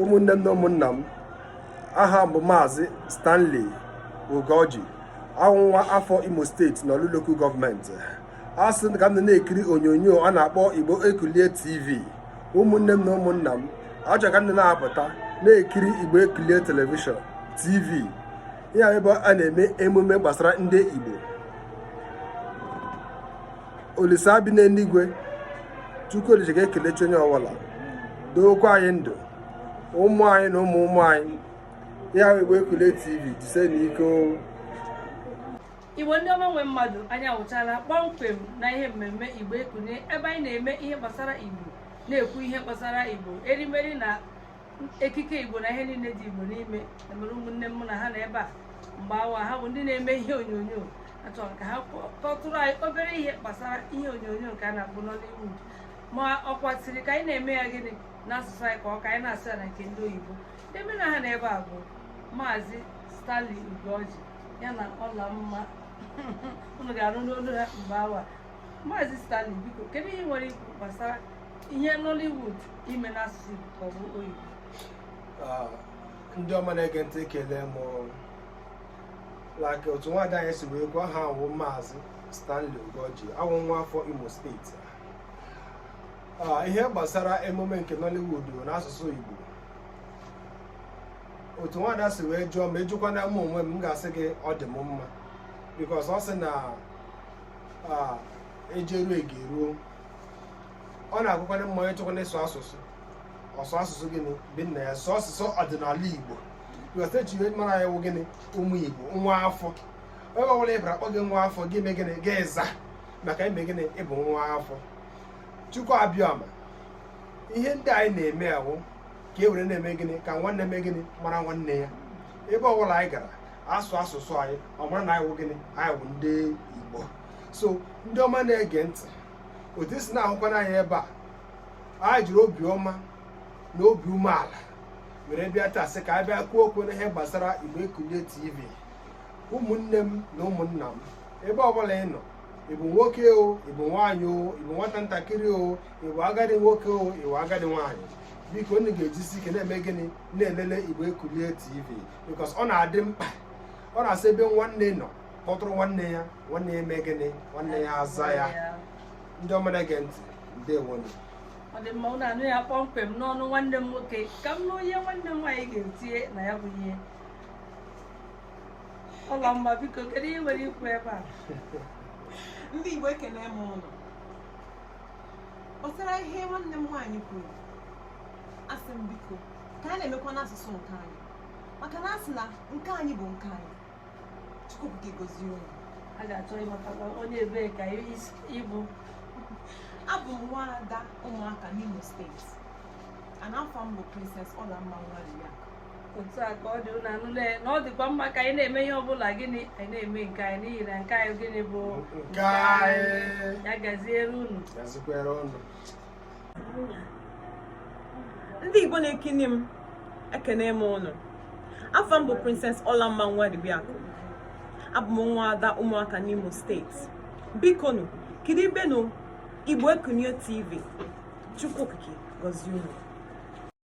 ụmụnne m na ụmụnna m aha m bụ maazị Stanley Ugoji awụ m nwa afọ Imo steeti na Orlu Local gọọmenti a sị ka unu na-ekiri onyonyo a na-akpọ Igbo Ekulie TV ụmụnne m na ụmụnna m achọrọ m ka unu na-apụta na-ekiri Igbo Ekulie telivishọn TV ya ebe a na-eme emume gbasara ndị Igbo olisa bi n'eluigwe chukwu olise ga-ekelechi onye ọbụla dookwa anyị ndụ ụmụ anyị na ụmụ ụmụ anyị ya Igbo Ekulie tv jisienụ ike igbo ndị ọma nwe mmadụ anyị awụchala kpọmkwem na ihe mmemme Igbo Ekulie ebe anyị na-eme ihe gbasara igbo na-ekwu ihe gbasara igbo erimeri na ekike igbo na ihe niile dị igbo n'ime e nwere ụmụnne m mụ na ha nọ ebe a mgbe awa ha bụ ndị na-eme ihe onyonyo achọrọ m ka ha kọtụrụ anyị obere ihe gbasara ihe onyonyo nke a na-akpọ Nollywood ma ọ kwatiri ka anyị na-eme ya gịnị n'asụsụ anyị ka ọ ka anyị na-asụ ya na nke ndị oyibo ndị mụ na ha nọ ebe a bụ maazị Stanley Ugoji ya na Ọlamma unu ga-anụ n'olu ha mgbe awa maazị Stanley biko kedu ihe i nwere ikwu gbasara ihe Nollywood ime n'asụsụ Igbo ka ọ bụ oyibo ah, ndị ọma na-ege ntị ekelee m like otu nwaada anyị si wee kpọ aha awụ m maazị Stanley Ugoji awụ m nwa afọ Imo steeti ah, ihe gbasara emume nke Nollywood n'asụsụ Igbo otu nwaada si wee jụọ ma a jụkwana m onwe m m ga-asị gị ọ dị m mma because ọ sị na ah, e jeruo a garuo ọ na-adịkwana mma onye chọkwana ịsụ asụsụ ọ sụọ asụsụ gịnị nke nna ya sụọ asụsụ ọdịnala igbo iwetechi ihe mara ya wụ gịnị ụmụ igbo nwa afọ ebe ọbụla ị bara a kpọọ gị nwa afọ gị eme gịnị gị aza maka ime gịnị ị bụ nwa afọ chukwu abịama ihe ndị anyị na-eme a wụ ka e were na-eme gịnị ka nwanne mee gịnị mara nwanne ya ebe ọbụla anyị gara a sụọ asụsụ anyị ọ mara na anyị wụ gịnị anyị wụ ndị igbo so ndị ọma na-ege ntị otu i si na-ahụkwana anyị ebe a anyị jiri obiọma na obi umeala were bịa taa sị ka anyị bịa kwuo okwu n'ihe gbasara Igbo Ekulie TV ụmụnne m na ụmụnna m ebe ọbụla ị nọ ị bụ nwoke o ị bụ nwaanyị o ị bụ nwata ntakịrị o ị bụ agadi nwoke o ị bụ agadi nwaanyị biko unu ga-ejisi ike na-eme gịnị na-elele Igbo Ekulie TV because ọ na-adị mkpa ọ na-asị ebe nwanne nọ kpọtụrụ nwanne ya nwanne ya eme gịnị nwanne ya aza ya ndị ọma na-ege ntị ndewonu ọ dị mma ụnụ anụ ya kpọmkwem n'ọnụ nwanne m nwoke ka m nụ ihe nwanne m nwaanyị ga-etinye na ya bụ ihe Ọlamma biko kedu ihe i nwere ikwu ebe a ndị igbo ekene m ụnụ gbasara ihe nwanne m nwaanyị kwuru asị m biko ka a na-emekwa n'asụsụ nke anyị maka na a sị na nke anyị bụ nke anyị Chukwu Okike gọzie unu. A ga-achọ ịmatakwa onye ebee ka ị bụ. Abụ m nwa ada Ụmụaka n'Imo steeti. And afa m bụ Princess Ọlamma Nwaliya. otu a ka ọ dị unu anụla ya na ọ dịkwa mma ka anyị na-eme ihe ọbụla gịnị anyị na-eme nke anyị n'ihi na nke anyị gịnị bụ Nke anyị. ya gaziere unu Gaziekwara unu. ndị Igbo na-ekiri m ekene m ụnụ afa m bụ Princess Ọlamma Nwadibiakụ abụ m nwa ada Ụmụaka n'Imo steeti biko nụ kiribe nụ Igbo Ekunie TV Chukwu Okike gọzie unu